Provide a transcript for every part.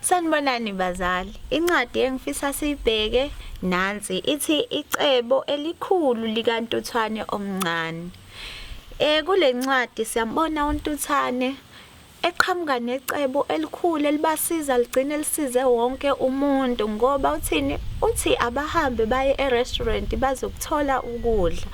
Sanibonani bazali. Incwadi engifisa siyibheke nansi ithi icebo elikhulu likantuthwane omncane. Eh kulencwadi siyambona untuthane eqhamuka necebo elikhulu elibasiza ligcine lisize wonke umuntu ngoba uthini uthi abahambe baye e-restaurant bazokuthola ukudla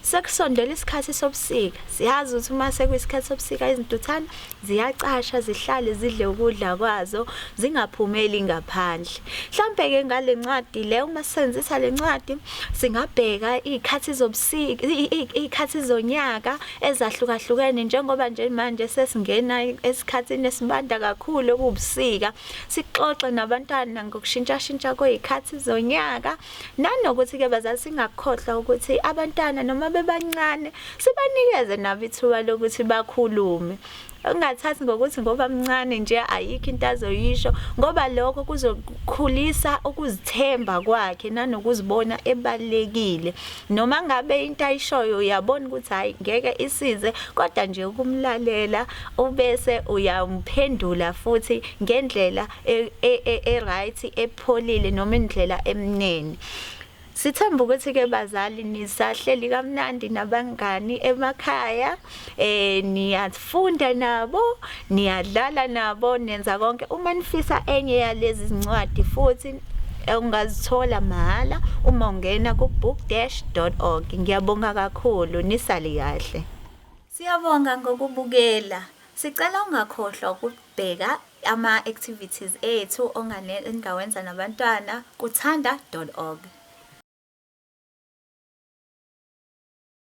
sekusondela isikhathi sobusika siyazi ukuthi uma sekuyisikhathi sobusika izintuthane ziyacasha zihlale zidle ukudla kwazo zingaphumeli ngaphandle mhlampe ke ngale ncwadi le uma sisenzisa le ncwadi singabheka izikhathi zobusika izikhathi zonyaka ezahlukahlukene njengoba nje manje sesingena esikhathini esibanda kakhulu okubusika sixoxe nabantwana ngokushintshashintsha kwezikhathi zonyaka nanokuthi ke bazali singakhohlwa ukuthi abantwana noma bebancane sibanikeze nabo ithuba lokuthi bakhulume ungathathi ngokuthi ngoba mncane nje ayikho into azoyisho ngoba lokho kuzokhulisa ukuzithemba kwakhe nanokuzibona ebalekile noma ngabe into ayishoyo uyabona ukuthi hayi ngeke isize kodwa nje ukumlalela ubese uyamphendula futhi ngendlela e, e, e, e-right epholile noma indlela emnene Sithemba ukuthi ke bazali nisahleli kamnandi nabangani emakhaya eh niyafunda nabo niyadlala nabo nenza konke uma nifisa enye yalezi zincwadi futhi ungazithola mahhala uma ungena ku-book-org ngiyabonga kakhulu nisale kahle siyabonga ngokubukela sicela ungakhohlwa ukubheka Ama-activities ethu ongawenza nabantwana kuthanda.org.